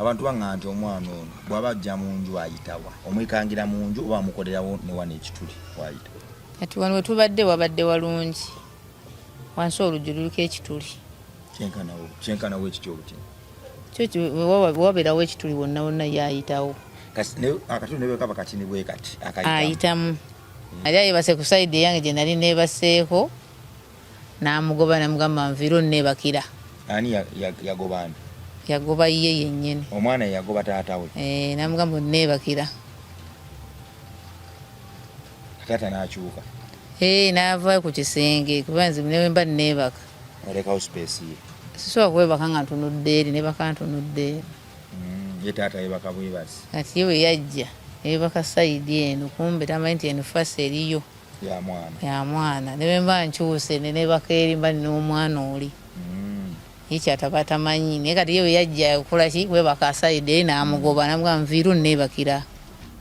Abantu bangamba nti omwana ono bw'aba ajja mu nju ayitawa? Omwekangira mu nju oba amukolerawo ne wano ekituli wayita? Kati wano we tubadde wabadde walungi, wansi oluggi luliko ekituli. Kyenkanawo kyenkanawo ekiti oluti kyo wabeerawo ekituli wonna wonna ye ayitawo. Akatuli ne bwe kaba katini bwe kati ayitamu. Yali ayebase ku sayidi eyange gye nali neebaseeko. n'amugoba namugamba nviira onnebakira ani yagoba ani yagoba ye yennyini omwana yagoba taata we eh, namugamba onnebakira taata n'akyuka eh, n'ava ku kisenge kuba nze newemba nneebaka olekawo space ye sisobola kwebaka nga ntunudde eri nebaka ntunudde eri mm, ye taata yebaka bwebasi kati ye bwe yajja yebaka sayidi eno kumbe tamanyi nti eno fasi eriyo ya mwana ya mwana ne bemba nchuse ne ne bakeri mba no mwana oli mm. ichi atapata manyi ne kati yewe yajja kula chi we bakasa ide na amugoba mm. na mbwa mviru ne bakira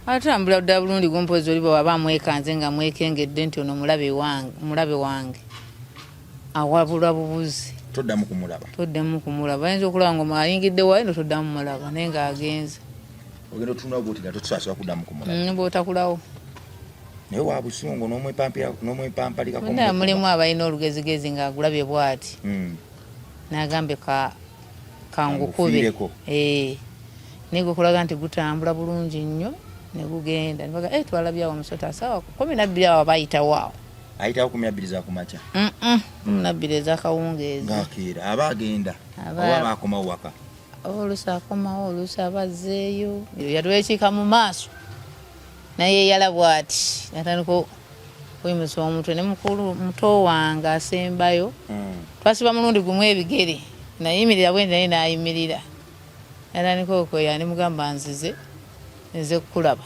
atambula da bulundi gompo zoli baba bamweka nze nga mwekenge denti ono mulabe wange mulabe wange awabula bubuzi toddamu kumulaba toddamu kumulaba ayinza okulaba nga ayingidde wayo no toddamu mulaba naye nga agenze ogenda otunula gotira totusasobola kuddamu kumulaba mm, bwotakulawo naye wa busungu n'omwepampalika naye mulimu abalina olugezigezi ng'agulabye bwati hmm. n'agambe kangukube eh. naye gwekulaga nti gutambula bulungi nnyo ne gugenda nebaga eh, twalabye awo omusota asawa kumi nabbiri awo bayitawo awo ayitawo kumi nabbiri zakumakya kumi nabbiri ezakawungeezi ngakeera aba agenda oba baakomawo waka oluusi akomawo oluusi aba azzeeyo yatwekiika mu maaso naye yala bwati natandika kwemusa omutwe ne mukulu muto wange asembayo mm. twasiba mulundi gumu ebigere nayimirira bwendi naye nayimirira natandika okweya ne mugamba nzize nze kukulaba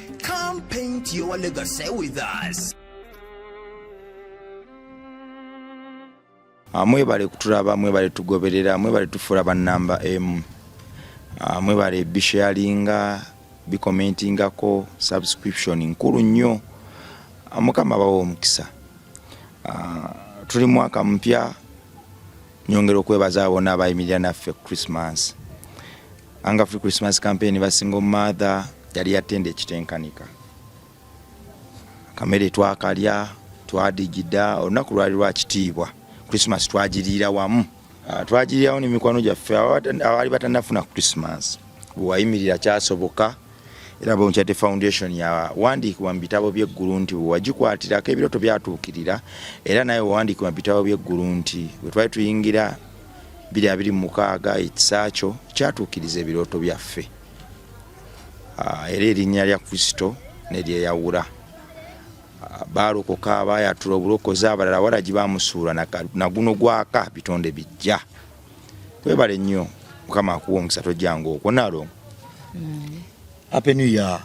Come paint your legacy with us. Ah, mwebale kutulaba mwebale tugoberera mwebale tufuula bannamba emu ah, mwebale bisharinga bikomentingako subscription nkulu nnyo ah, mukama bawa omukisa tuli mwaka mpya nyongera okwebaza abona abayimirira naffe christmas Anga Free Christmas Campaign ba single mother yali yatenda ekitenkanika. Kamere twakalya, twadigida, olunaku lwali lwa kitiibwa. Christmas twagiriira wamu. Ah, twagiriirawo ne mikwano gyaffe abaali batanafuna Christmas. Bwewayimirira kyasoboka era Bonkyate Foundation yawandiikibwa mu bitabo by'eggulu nti bwewagikwatirako ebirooto byatuukirira era naye wawandiikibwa mu bitabo by'eggulu nti bwe twali tuyingira biri abiri mu mukaaga ekisaakyo kyatuukiriza ebirooto byaffe ah, era erinnya lya kristo neryeyawula ah, baalokoka abayatula obulokozi abalala walagi bamusuula naguno gwaka bitonde bijja webale nnyo mukama akuwa omukisa tojjanga okwo nalo mm. happy new year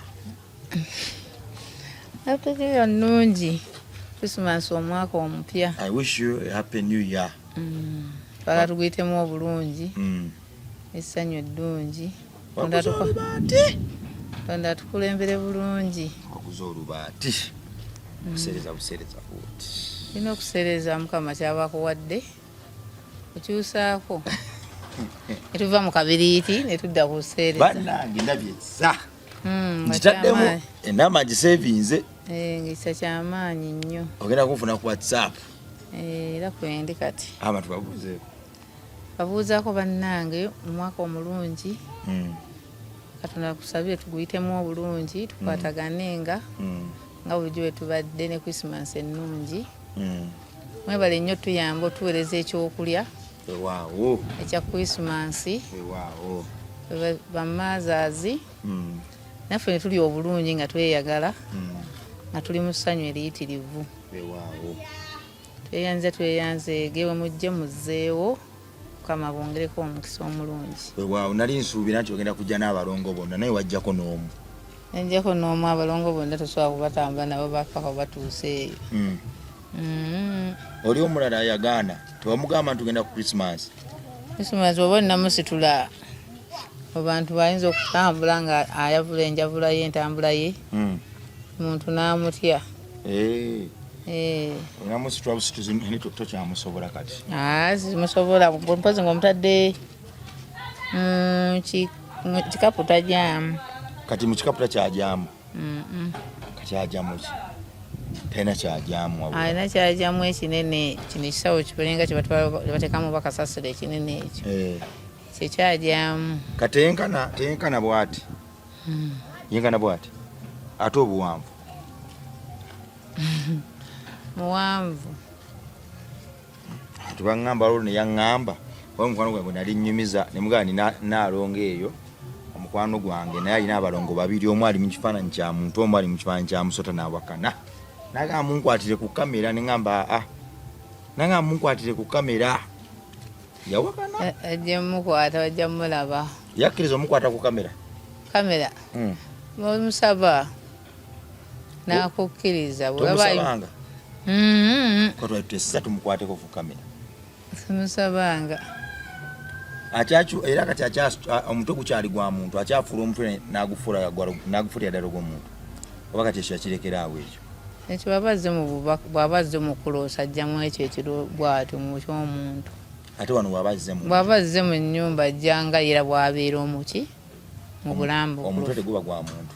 happy new year nungi christmas omwaka omupya i wish you a happy new year mm. twala tuguyitemu obulungi mm. essanyu eddungi tonda tukulembere bulungi okuza olubaati mm. kusereza busereza buti olina okusereza mukama kyaba akuwadde okyusaako netuva mu kabiriiti netudda ku busereza banange nabyeza Hmm, ngitaddemu enamba ngisevinze eh, ngisa kyamaanyi nnyo ogenda kunfuna ku whatsapp Eh, era kwendi kati abantu babuuzeeko babuuzaako bannange omwaka omulungi hmm. katonda kusabire tuguyitemu obulungi hmm. tukwatagane nga hmm. nga bulijjo bwetubadde ne christmas ennungi mwebale nnyo tuyamba otuweereza ekyokulya ewaawo ekya christmas ewaawo bamaazazi naffe ne tuli obulungi nga tweyagala hmm. nga tuli mu ssanyu eriyitirivu tweyanze tweyanze gewe mujje muzzeewo mukama bongereko omukisa omulungi wewaawo nali nsuubira nti ogenda kujja n'abalongo bonna naye wajjako n'omu najjako n'omu abalongo bonna tosobola kubatambula nabo bafako batuuse eyo hmm. hmm. oli omulala yagaana tewamugamba nti ogenda ku krisimansi krisimansi oba olinamusitula abantu bayinza okutambula nga ayavula enjavula ye entambula ye hmm. muntu n'amutya eh. Eh. tokyamusobola kati ah, simusobola mpozi nga omutadde mm, kikapu tajyamu kati mu kikapu takyajamu kati ajamuki talina kyajamu alina kyajamu ekinene kino ekisawo kiberenga kyebatekamu bakasasiro ekinene ekyo eh. kyekyajamu kati teyenkana teyenkana bwati hmm. yenkana bwati ate obuwanvu muwanvu tubangamba lolo neyaŋŋamba oba omukwano gwange nali nnyumiza ne mugamba nina naalongo eyo omukwano gwange naye alina abalongo babiri omu ali mu kifaananyi kya muntu omu ali mu kifaananyi kya musota n'awakana nagamba munkwatire ku kamera ne ŋŋamba aa nagamba munkwatire ku kamera yawakana eh, eh, ajja mukwata bajja mulaba yakkiriza omukwata ku kamera kamera hmm. musaba nakukkiriza bwewabaanga mm-hmm. katwatwesisa tumukwateko ku kamera simusabanga era kati omutwe gukyali gwa muntu akyafuula omutwe nagufuulira ddala ogwomuntu oba kati ekyo yakirekera awo ekyo ekyo baba azze mu bubaka bwaba azze mu kuloosa ajjamu ekyo ekiro bwatyo mu kyomuntu ate wano bwaba azze mu bwaba azze mu nnyumba ajjanga era bwabeera omuki mu bulambo omutwe teguba gwa muntu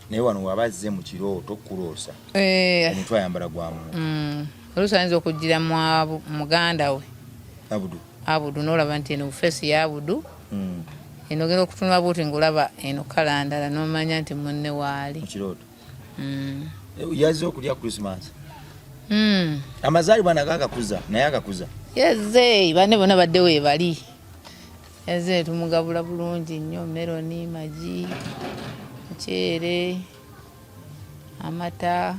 naye wano waba azze mu kirooto kukuloosa eh. omutwe ayambala gwa muntu mm. oluusi ayinza okujjira muganda we abudu abudu nolaba nti eno bufeesi ya abudu mm. eno ogenda okutunula buuti ngaolaba eno kalandala nomanya nti munne waali mukirooto mm. eh, yazze okulya christmas amazaalibwa nago agakuza naye agakuza yazze bane bona badde webali Eze tumugabula bulungi nnyo meroni, magi, muceere, amata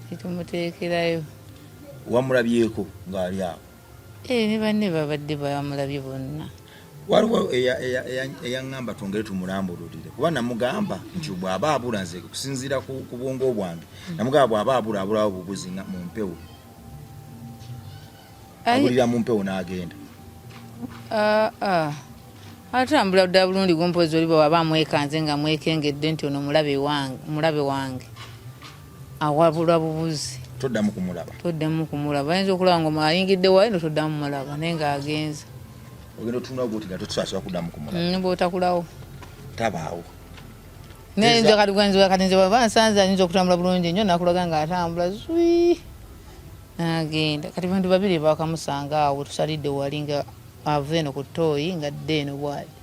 tetumuteekerayo. Wamulabyeko ng'ali awo? Ee, eh, ne banne babadde bamulabye bonna. Waliwo eyaŋŋamba twongere tumulambululire kuba namugamba nti bw'aba abula nze kusinziira ku bwongo bwange namugamba bw'aba abula abulawo bubuzi mu mpewo abulira mu mpewo n'agenda ah, ah. atambula dda bulungi gumpozi oliba waba amwekanze nga mwekengedde nti ono mulabe wange awabulwa bubuzi toddamu kumulaba toddamu kumulaba ayinza okulaba nga ayingidde wayo no toddamu mulaba naye nga agenze ogenda otunula gwotiga totusasobola kuddamu kumulaba mm, bwotakulawo tabaawo naye nze kati gwenzi kati nze baba nsanze anyinza okutambula bulungi nnyo nakulaga nga atambula zwi nagenda kati bantu babiri bakamusanga awo tusalidde wali nga ava eno ku tooyi nga dde eno bwali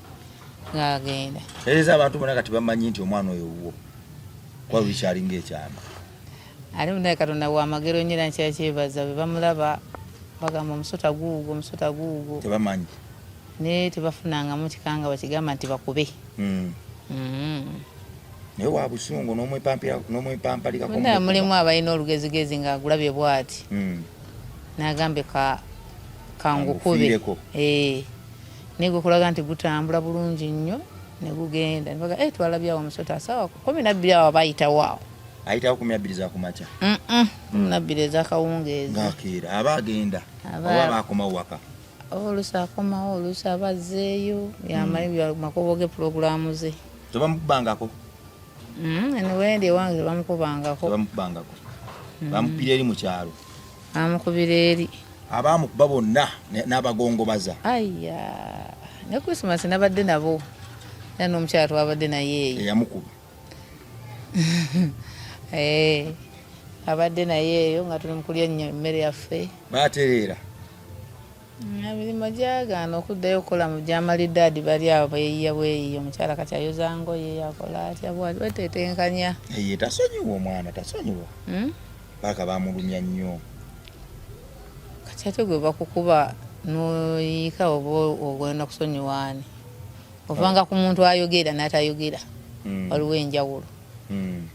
ngagenda ereza abantu bona kati bamanyi nti omwana oyo wuwo kuba bikyalinga ekyama ali munaye katonda wamagero nyera nkyakyebaza bebamulaba bagamba omusota guugo omusota guugo tebamanyi naye tebafunangamu kikanga bakigamba nti bakube mm. mm. naye wa busungu nomwepampalikako mulimu abalina olugezigezi nga agulabye bwati mm. nagambe ka kangukube eh. naye gwekulaga nti gutambula bulungi nnyo negugenda nibaga eh, twalabyawo omusota asawa kumi nabbiri awo abayitawo awo ayitawo kumi nabbiri zakumakya kumi nabbiri ezakawungeezi ngakeera aba agenda oba aba akomawo waka olusi akomawo olusi aba azzeeyo yamayo mm. makubo ge pulogulaamu ze tebamukubangako mm, eniwendi ewange tebamukubangako tebamukubangako mm. bamukubira eri mu kyalo bamukubira eri abaamukuba bonna n'abagongobaza aya ne krismas nabadde nabo era n'omukyala twabadde naye eyamukuba Eh, abadde naye eyo nga tuli mukulya ennyo emmere yaffe batereera mm, emirimu gyagaana okuddayo okukola mu gyamalidde adi bali abo beyiya bweyiya omukyala kati ayoza ngoye akola atya bwati wetetenkanya eye tasonyiwa omwana tasonyiwa hmm? paka bamulumya nnyo kati ate gwe bakukuba noyiika oba ogenda kusonyiwaani ovanga ku muntu ayogera natayogera hmm. waliwo enjawulo hmm.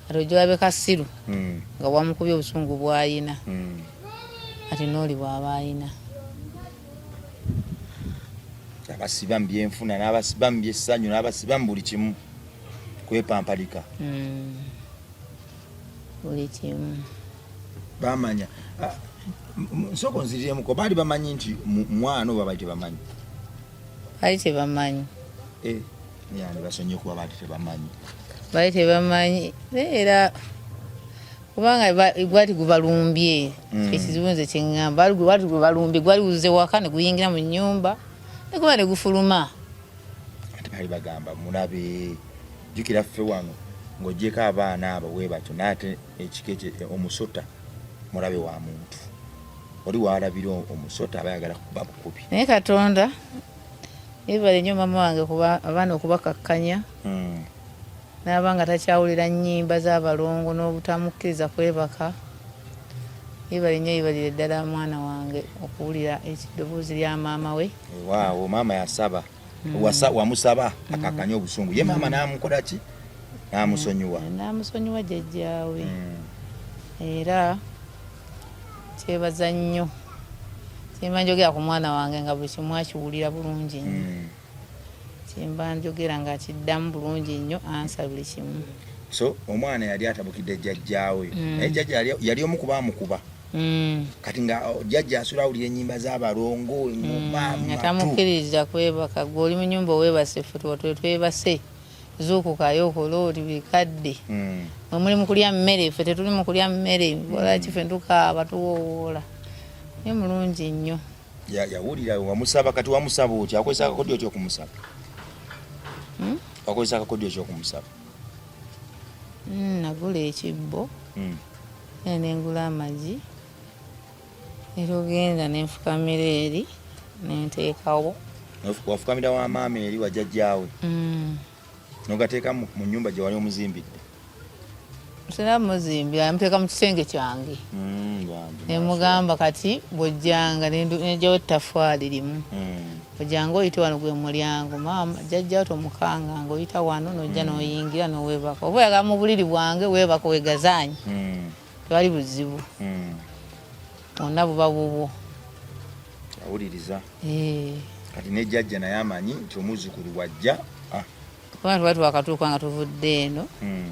ati ojawabe kasiru hmm. nga wamukubye obusungu bwayina ati nooli bwaba ayina abasiba mu byenfuna n'abasiba mu byessanyu n'abasiba mu buli kimu kwepampalika buli kimu bamanya ah, nsoko nziriremuko baali bamanyi nti mwana oba baali tebamanyi bali tebamanyi eh, yani basonyiwe kuba bali tebamanyi bali tebamanyi era kubanga gwali gubalumbye mm. ekizibu nze kyeŋŋamba gwali gubalumbye gwali guze waka ne guyingira mu nnyumba ne guba ne gufuluma ate bali bagamba mulabe jjukira ffe wano ng'ogyeko abaana abo we batyo naate ekika ekyo omusota mulabe wa muntu oli walabira omusota aba yagala kuba bukubi naye katonda yebale nyo mama wange kuba abaana okubakakkanya hmm. naaba nga takyawulira nyimba zabalongo n'obutamukkiriza kwebaka yebale nyo yebalire ddala mwana wange okuwulira ekiddoboozi lya maama we waawo maama yasaba hmm. wasa wamusaba hmm. akakanye obusungu ye maama hmm. namukola ki namusonyiwa namusonyiwa jajjaawe era kyebaza nnyo kyemba njogera ku mwana wange nga buli kimu akiwulira bulungi nnyo kyemba njogera nga akiddamu bulungi nnyo ansa buli kimu so omwana yali atabukidde jajjaawe naye jajja yali omu kuba amukuba Mm. kati nga oh, jajja asula awulira enyimba zabalongo emumaatamukkiriza mm, kwebaka gwe oli munyumba owebase futuwa twetwebase zuukukayo okola oli bikadde mm. mwe muli mukulya mmere fe tetuli mukulya mmere olaki fe ntukaaba tuwowoola ye mulungi nnyo yawulira wamusaba kati wamusaba otya akozesa akakodyo ki okumusaba hmm? akozesa akakodyo ki okumusaba hmm, nagula ekibbo hmm. era ne ngula amagi era ogenda ne nfukamira eri ne nteekawo wafukamira wa maama eri wajjajjaawe mm. nogateeka mu nyumba gye wali omuzimbidde sina muzimbi amuteeka mu kisenge kyange mm, nemugamba kati bwojjanga nejawo ettafaali limu mm. ojanga oyite wano gwe mulyango maama jajja tomukanga nga oyita wano nojja hmm. noyingira nowebaka oba oyagala mu buliri bwange webaka wegazanyi hmm. tewali buzibu hmm. ona buba bubwo awuliriza eh. kati ne jajja naye amanyi nti omuzukulu wajja ah. kubanga tuba twakatuuka nga tuvudde eno hmm.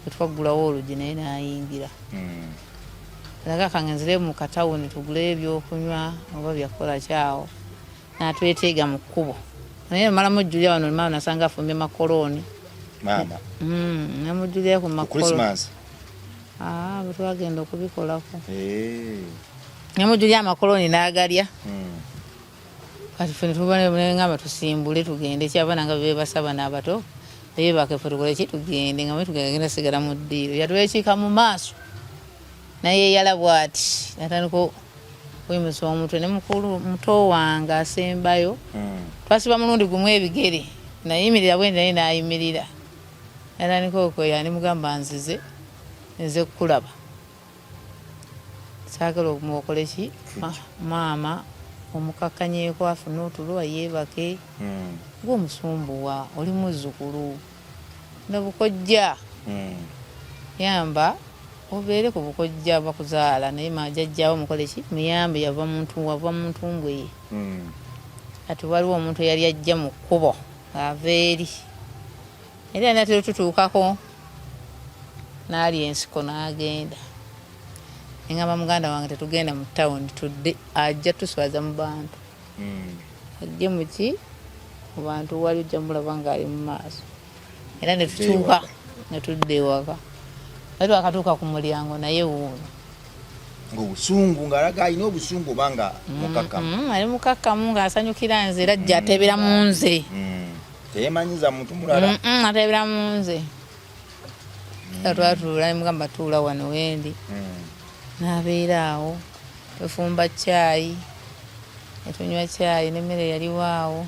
etwaggulawo olugi naye nayingira hmm. alaga kangenzire mu katawuni tugule ebyokunywa oba byakukola kyawo natweteega mu kkubo naye omalamu ojjulira wano maama nasanga afumbye makolooni maama hmm, namujjulira ku makolooni ah, bwetwagenda okubikolako namujjulira amakolooni nagalya kati ffe netubanengamba tusimbule tugende kyabana nga bebasaba n'abato bebake fe tukole ki tugende nga mwetugenda sigala mu ddiiro yatwekiika mu maaso naye yala bwati natandika kwemusa omutwe ne mukulu muto wange asembayo hmm. twasiba mulundi gumu ebigere nayimirira bwendi naye nayimirira natandika okweya ne mugamba nzize nze kukulaba saagala omuwokoleki maama omukakkanyeeko afune otulwa yeebake hmm. gwe omusumbuwa oli muzzukulu nga bukojja hmm. yamba obeere ku bukojja bakuzaala naye majajjawo mukoleki muyambe yava muntu wava muntu mbweye hmm. kati waliwo omuntu eyali ajja mu kkubo ava eri era natera otutuukako n'alya ensiko n'agenda engamba muganda wange tetugenda mu tawuni tudde ajja tuswaza mu bantu hmm. ajje muki mu bantu wali ojja mulaba ng'ali mu maaso era netutuuka netudda ewaka naye twakatuuka ku mulyango naye wuuno ngaobusungu ngaalaga alina obusungu oba nga mm-hmm. mukakkamu ali mukakkamu ng'asanyukira nze era jja mm. atebera mu nze mm. teyemanyiza muntu mulala atabira munze mm. atwatuula nemugamba tuula wano wendi mm. nabeera awo tufumba kyayi etunywa kyayi nemmere yaliwo awo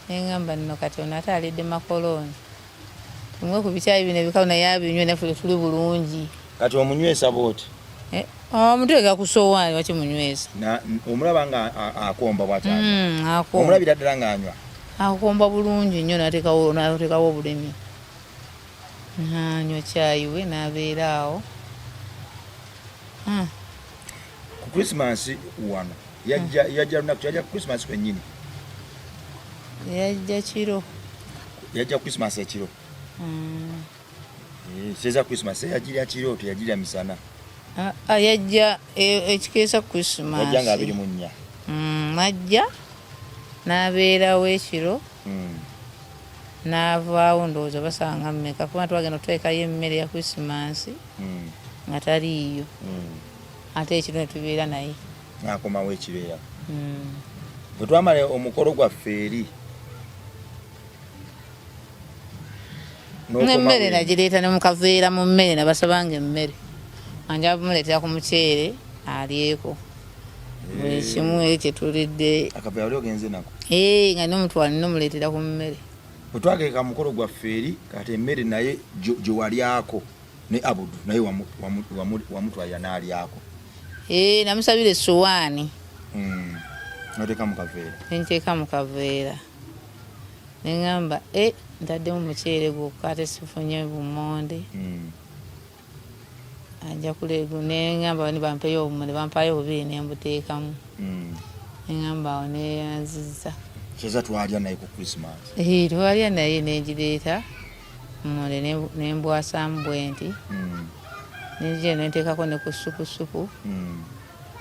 nengamba nno kati ono ate alidde makolooni Bimwe ku bikyayi bino ebikalu naye abinywe naffe tuli bulungi. Kati omunywesa bw'oti? Eh, omuteeka ku sowaani waki munywesa? Omulaba nga akomba bw'akyanywa? Hmm, Omulabira ddala ng'anywa? Akomba bulungi nnyo n'ateekawo obulemi. N'anywa kyayi we n'abeera awo. Hmm. ku Christmas wano yajja hmm. yajja lunaku yajja Christmas kwennyini yajja kiro yajja Christmas ekiro hmm. eh, seza Christmas yajira kiro teyajira misana ah, ah, yajja e, ekikeesa Christmas yajja nga abiri mu nnya hmm, majja n'abeerawo ekiro n'avaawo ndowooza basanga mmeka kuba twagenda otwekayo emmere ya Christmas nga taliiyo mm. ate ekiro ne tubeera naye n'akomawo ekibeera hmm. bwe twamala omukolo gwaffe eri n'emmere nagireeta ne mukaveera mu mmere nabasabanga emmere anja bumuleetera ku muceere alyeko buli eh. kimu eri kyetulidde eh, nga nomutwala nomuleetera ku mmere bwe twageeka mukolo gwaffe eri kati emmere naye gye walyako ne abudu naye wamutwalira n'alyako ee eh, namusabira essowaani hmm. noteeka mu kaveera nenteeka mu kaveera neŋamba e eh, ntaddemu muceere gwokka ate sifunye bumonde hmm. ajja kulegu neŋamba ni bampeyo obumuli bampayo obubiri nembuteekamu hmm. neŋamba awo neyanziza kyeza twalya naye ku krismas eh, twalya naye nengireeta mmunde ne mbwasaamu bwenti hmm. nenzija eno nteekako ne ku ssupusupu hmm.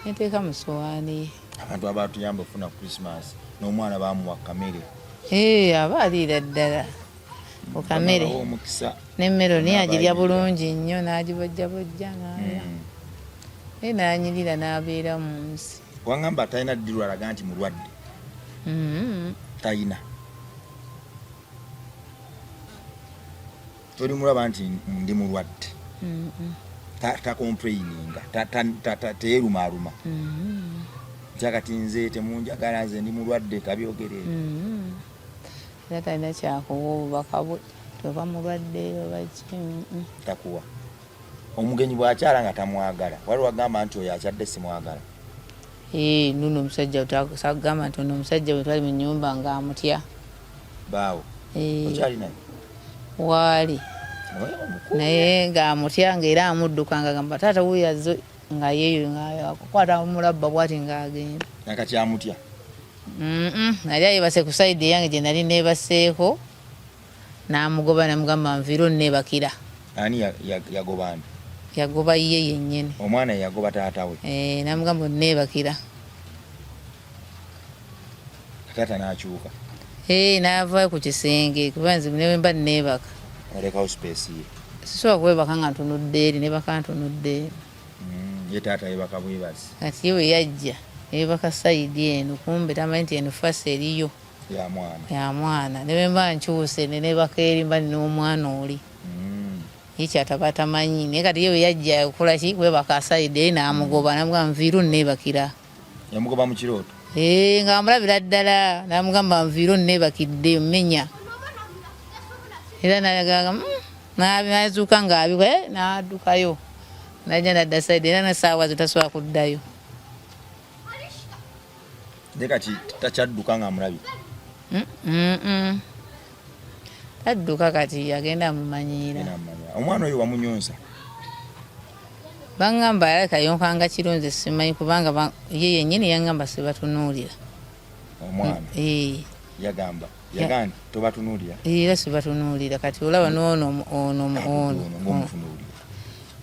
neteeka mu sowaani ye abantu abatuyamba okufuna christmas n'omwana bamuwa kamere ee eh, aba aliira ddala ku kamere nemmere niye agirya bulungi nnyo n'agibojjabojja naalya hmm. naye nanyirira n'abeera mu nsi wangamba talina ddirwalaga nti mulwadde talina tolimulaba nti ndi mulwadde takomplaininga teyerumaruma mm-hmm. kyakati nze temunjagala nze ndi mulwadde tabyogere mm-hmm. era talina kyakuwa obubaka bwe oba mulwadde obaki mm-hmm. takuwa omugenyi bwakyala nga tamwagala wali wagamba nti oyo akyadde simwagala eh, nuno omusajja sagamba nti ono omusajja wetwali mu nyumba nga amutya baawo okyali naye waali naye nga amutya nga era amudduka nga gamba taata wuyo azze nga yeeyo nga akukwata mulabba bwati nga agenda nakati amutya nali ayebase ku saidi eyange gye nali neebaseeko n'amugoba namugamba nviire onneebakira ani yagoba ani yagoba ye yennyini omwana yagoba taata we eh, namugamba onneebakira taata n'akyuka ee eh, n'ava ku kisenge kuba nze ne bwemba nneebaka alekawo space ye sisobola kwebaka nga ntunudde eri nebaka ntunudde eri mm, ye taata yebaka bwebazi kati ye bwe yajja yebaka sayidi eno kumbe tamanyi nti eno fasi eriyo ya mwana ya mwana ne bwemba nkyuse ne nebaka eri mba nina omwana oli mm. ye kyataba atamanyi naye kati ye bwe yajja okukola ki kwebaka sayidi eri n'amugoba mm. nabwa nviiru nneebakira yamugoba mu kirooto eh, nga amulabira ddala namugamba nviiro nebakidde menya era nayagaga mm, nazuuka ngaabiwa eh, nadukayo naja nadda saidi era nasaawa zo tasobola kuddayo naye kati takyadduka nga amulabye tadduka kati agenda amumanyiira omwana oyo wamunyonza bangamba alaka yonkanga kiro nze simanyi kubanga ye yenyini yangamba sibatunuulira omwana mm, yagamba yagani tobatunuulira era sibatunuulira kati olaba noono ono ono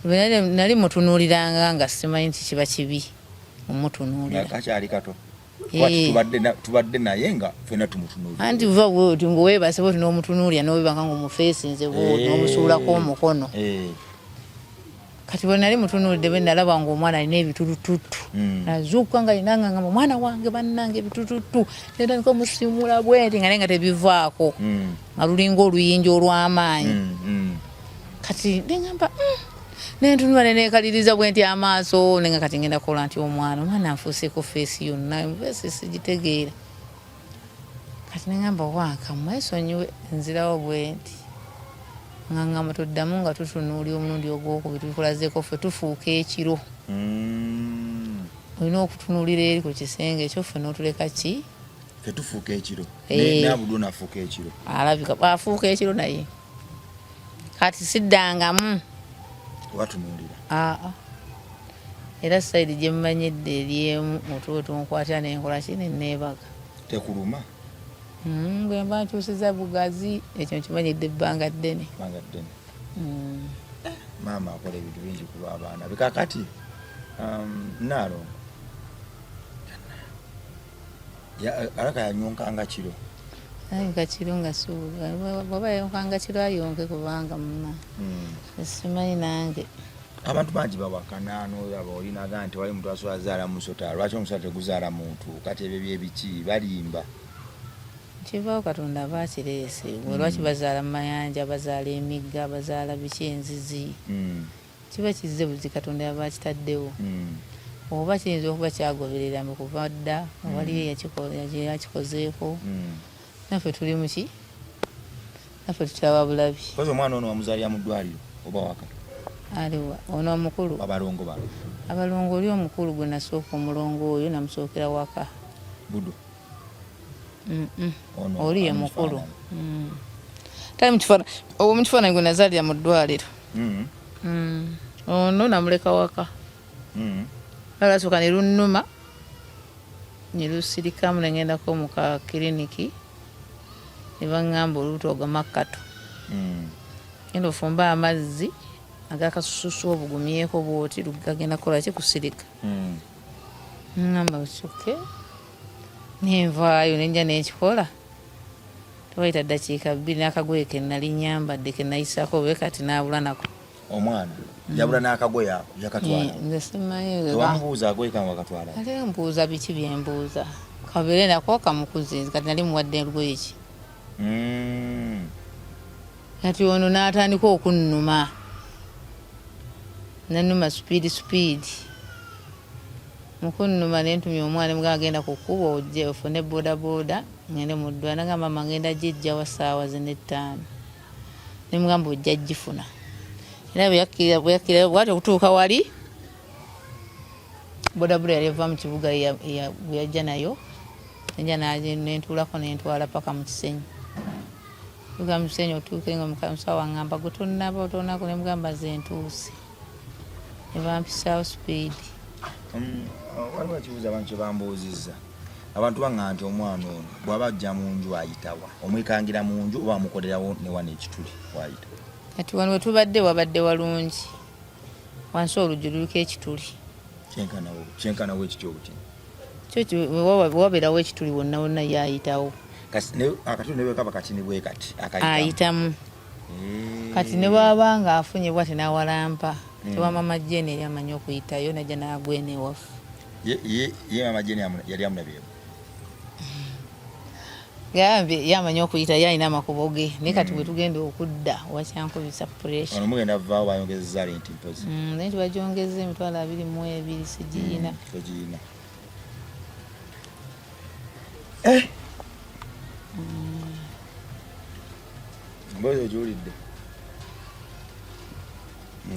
nali mutunuuliranga nga simanyi nti kiba kibi omutunuulira kakyali kato Eh. tubadde naye nga fena tumutunulianti uva woti ngowebasaba oti nomutunulia nowebanga nga omufesinze bwoti eh. nomusuulako omukono eh. kati bwenali mutunulidde bwenalaba nga omwana alina ebitulututtu hmm. nazuukuka nga linangangama omwana wange bannange ebitulututtu netandika omusimula bwenti nga naye nga tebivaako hmm. nga lulinga oluyinja olwamaanyi hmm, kati nengamba mm. nentunula nenekaliriza bwenti amaaso nenga kati ngenda kola nti omwana omwana anfuuseko feesi yonna feesi sigitegeera kati nengamba waaka mwesonyiwe nzirawo bwenti ngangamba tuddamu nga tutunuuli omulundi ogwokubiri tukulazeko ffe tufuuka ekiro mm. olina okutunulira eri ku kisenge ekyo ffe notuleka ki tetufuuka ekiro eh. nabudu nafuuka ekiro alabika afuuka ekiro naye kati siddangamu watunuulira aa ah, ah. era sayidi gye mumanyidde eryemu mutwe otunkwata nenkola ki neneebaga tekuluma hmm, bwe mba nkyusiza bugazi ekyo nkimanyidde ebbanga ddene hmm. maama akola ebintu bingi kulwa abaana bikakati um, naalo araka yanyonkanga kiro ayonka kiro nga bwaba yayonkanga kiro ayonke kubanga muma hmm. simanyi nange abantu bangi bawakana nolaba olinaga nti wali muntu asobola zaala musota lwaki omusota teguzaala muntu kati ebyo byebiki balimba kivaawo katonda aba akireese hmm. lwaki bazaala mu mayanja bazaala emigga bazaala biki enzizi hmm. Kiba kizze buzi Katonda yaba akitaddewo. Mm. Oba kiyinza okuba kyagoberera mu kuva dda mm. waliyo yakikozeeko. Mm. Naffe tuli muki? Naffe tukyaba bulabi. Kozo omwana ono wamuzaalira mu ddwaliro oba waka? Aliwa ono omukulu. Abalongo bano. Abalongo oli omukulu gwe nasooka omulongo oyo namusookera waka. Budo. oli ye mukulu mm. tali mukifaananyi owo mukifaananyi gwe nazaalira mu ddwaliro mm. mm. ono namuleka waka alasooka ne lunnuma ne lusirikamu ne ngendako mu ka kiriniki ne baŋŋamba olubuto ogamakkatu genda ofumbe amazzi agakasususu obugumyeko bwoti lugagenda kukola ki kusirika ŋŋamba osoke nenvaayo nenja nekikola tewaita dakiika bbiri nakagoye kenali nyambadde kenayisako obe kati nabula nako omwana yabula nakagoye ako yakatwalaewamubuuza eh, agoye kange wakatwala ali mbuuza biki byembuuza kabere nako kamukuzi kati nali muwadde lugoye ki mm. kati ono natandika okunnuma nanuma supiidi supiidi mukunnuma nentumya omwana emugamba genda ku kkubo ojje ofune bodaboda ngende mu ddwaliro nagamba mama ngenda gijjawa ssaawa zino ettaano nemugamba ojja gifuna era bweyakkira bwati okutuuka wali bodaboda yali eva mu kibuga bweyajja nayo eja nentuulako nentwala paka mu kisenyi uga mu kisenyi otuuke nga omusawo angamba gwe tonnaba otonaku nemugamba zentuuse nebampisaawo sipiidi mm, waliwo ekibuuzo abantu kyebambuuzizza abantu baŋa nti omwana ono bwaba ajja mu nju ayitawa omwekangira mu nju oba amukolerawo newana ekituli wayita kati wano wetubadde wabadde walungi wansi oluggi luliko ekituli kyenkanawo ekiti obutini waberawo ekituli wonna wonna yayitawo akatuli nebwekaba katini bwekati ayitamu kati ne bwaba nga afunye bwati nawalampa mm. tewa mama jeni yali amanyi okuyitayo naja nagwena ewaffe ye mama jeni yali amulabyemu gambye yamanyi okuyita yalina amakubo ge naye kati mm. bwetugenda okudda wakyankubisa puressamugenda vaawo bayongezeza renti mpozi mm, naye tibajongeza emitwalo abiri mu ebiri sigiyina mm, togiyina eh!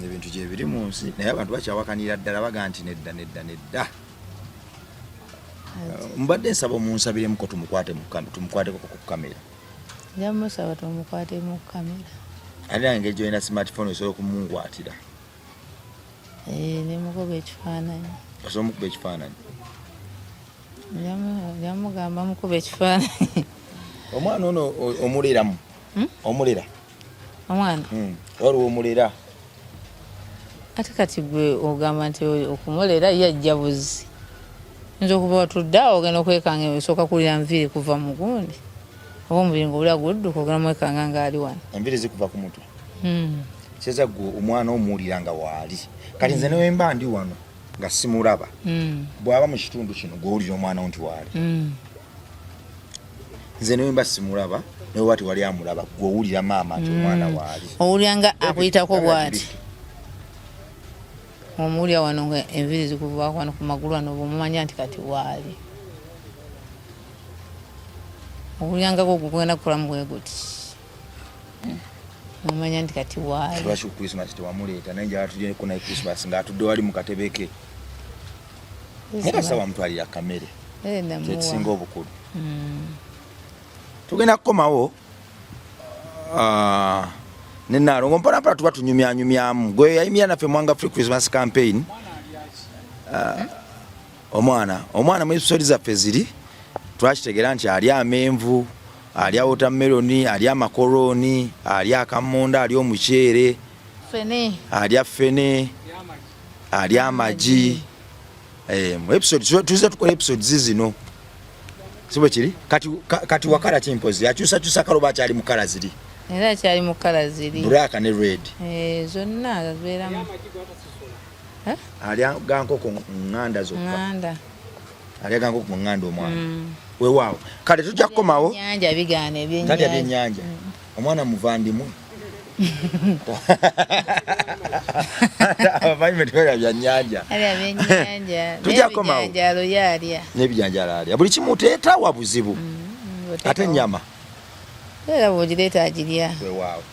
ebintu gyebiri mu nsi naye abantu bakyawakanira ddala baga nti nedda nedda nedda mbadde nsaba omunsabiremuko tumukwateko ku kamera njamusaba tumukwatemu ku kamera ate nange ngeri gyolina smartphone osobola okumukwatira eh, nemukuba ekifaananyi osobola omukuba ekifaananyi yamugamba mukuba ekifaananyi omwana ono omuleramu hmm? omulera omwana hmm. waliwo omulera ate kati gwe ogamba nti okumulera ye ajja buzi nza okuba watudde awo ogenda okwekanga esooka kuwulira nviiri kuva mu gundi oba omubiri nga obula gudduka ogenda mwekanga ngaali wano enviiri zikuva ku mutwe hmm. kyeza gwe omwana omuwulira nga waali kati nze newemba ndi wano nga simulaba mm. bwaba mu kitundu kino gwowulira omwana wo nti waali mm. nze newemba simulaba nawe wati wali amulaba gwowulira maama nti omwana mm. waali owulira nga akuyitako bwati omuwulira wano nga enviri zikuvako wano ku magulu wano bwomumanya nti kati waali owulirangako ogugenda kukolamu bweguti omanya nti kati waali lwaki ku christmas tewamuleeta naye njala tulyeko naye christmas ng'atudde wali mu katebe ke naye kasita wamutwalira kamere eh, kyekisinga obukulu hmm. tugenda kukomawo ah, ne nalongo mpanampana tuba tunyumyanyumyamu gwe yayimira naffe mwanga free christmas campaign ah, omwana omwana mu episodi zaffe ziri twakitegera nti ali amenvu alya wotameroni alya amakorooni alya akammonde alya omuceere alya fene alya amagi eh, mu episode tuza tukola episodes zino sibwe kiri kati, kati wakala kimpozi akyusakyusa kaloba akyali mu kala ziri era akyali mu kala ziri buraka ne red eh, zonna azibeeramu alya gankoko nganda zokka alyaganga okumunganda omwana mm. wewaawo kale tujja kukomawo nyanja bigaana ebyenyanja byenyanja mm. omwana muvandimwe abamanyi betwera byanyanja tujja komawo nebijanjala alya buli kimu teetawa buzibu mm, ate nyama era bwogireeta agirya wewaawo